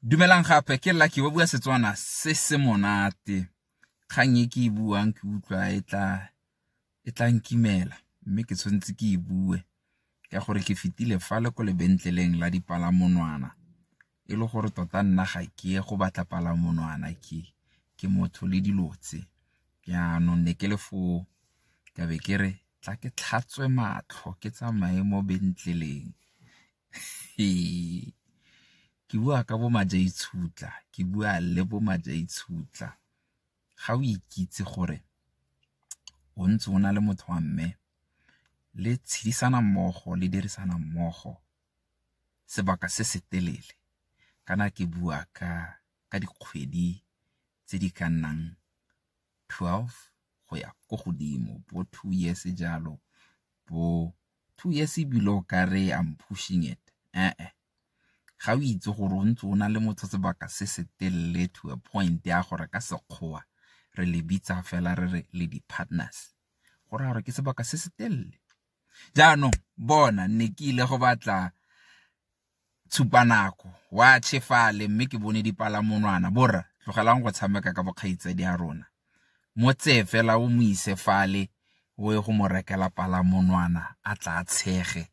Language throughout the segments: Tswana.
dumelang gape ke lucky ba bua setswana se se monate kgang e ke e buang ke utlwa e tla e tla nkimela mme ke tshwanetse ke e bue ka gore ke fetile fa le ko lebentleleng la dipalamonwana e le gore tota nna ga ke ye go batla palamonwana ke ke motho le dilo tse jaanong ne ke le foo ka be ke re tla ke tlhatswe matlho ke tsamaye mo bentleleng ke bua ka bo Majaitshutla, ke bua le bo Majaitshutla. Ga o ikitse gore o ntse o na le motho wa mme le tshedisana mmogo, le dirisana mmogo sebaka se se telele kana ke bua ka ka dikgwedi tse di ka nnang twelve go ya ko godimo bo two years jalo bo. two years ebile o ka re I'm pushing it ga o itse gore o ntse o na le motho sebaka se se telele to a point ya gore ka sekgowa re le bitsa fela re re le di-partners go raya gore ke sebaka se se telele jaanong bona ne ke ile go batla tshupanako wa tshefale mme ke bone dipalamonwana borra tlogelang go tshameka ka bokgaitsadi ya rona mo tseye fela o mo ise fale o ye go mo rekela palamonwana a tla tshege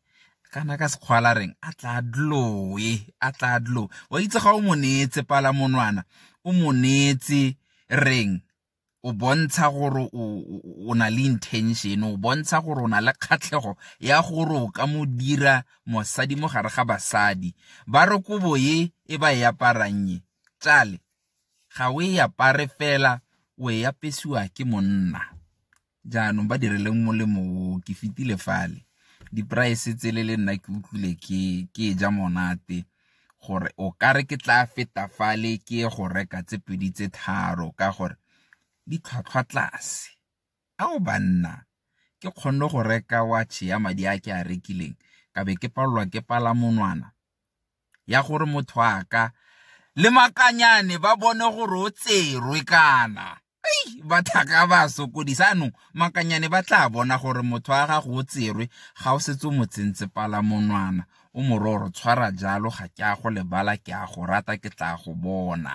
kana ka sekgwala reng a tla dloe a tla dlo wa itse ga o mo neetse palamonwana o mo neetse reng o bontsha gore o na le intention o bontsha gore o na le kgatlhego ya gore o ka mo dira mosadi mo gare ga basadi ba re kobo e e ba e aparang e tšale ga o e apare fela o e apesiwa ke monna Jaanong ba direleng molemo o ke fetile fale. Di-price tsele le nna ke utlwile ke e ja monate gore o kare ke tla feta fale ke ye go reka tse pedi tse tharo ka gore di tlhwatlhwa tlase. Ao banna, ke kgonne go reka watch ya madi a ke a rekileng ka be ke palelwa ke palamonwana ya gore motho a ka le makanyane ba bone gore o tserwe kana ei bathaka ba sokodisa anong makanyane ba tla bona gore motho wa gago o tserwe ga o setse o mo tsentse pala monwana o mororo tshwara jalo ga ke a go lebala ke a go rata ke tla go bona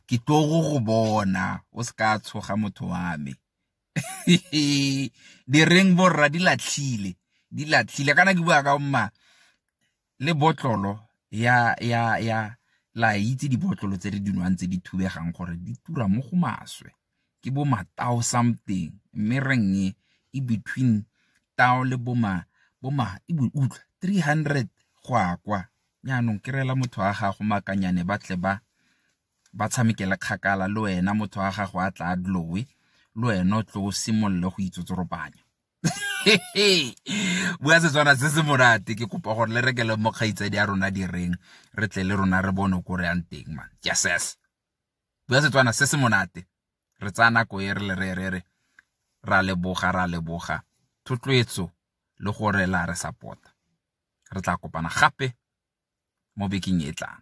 ke tlogo go bona o se ka tshoga motho wa me di reng borra di latlhile di latlhile kana ke bua ka mma le botlolo ya ya ya la itse dibotlolo tse re dinwang tse di thubegang gore di tura mo go maswe ke bo matao something mme reng e e between tao le bo ma bo ma e bo utlwa 300 go akwa nyanong ke rela motho wa gago makanyane ba tle ba ba tshamekele kgakala le wena motho wa gago a tla a dlowe le wena o tlo o simolole go itsotsoropanya bua setswana se se monate ke kopa gore le rekele mo kgaitsadi a rona direng re tle le rona re bone ko re yang teng man yeses bua setswana se se monate re tsaya nako e re le re re re ra leboga ra leboga thotloetso le gore la re support Re tla kopana gape mo bekeng e e tlang.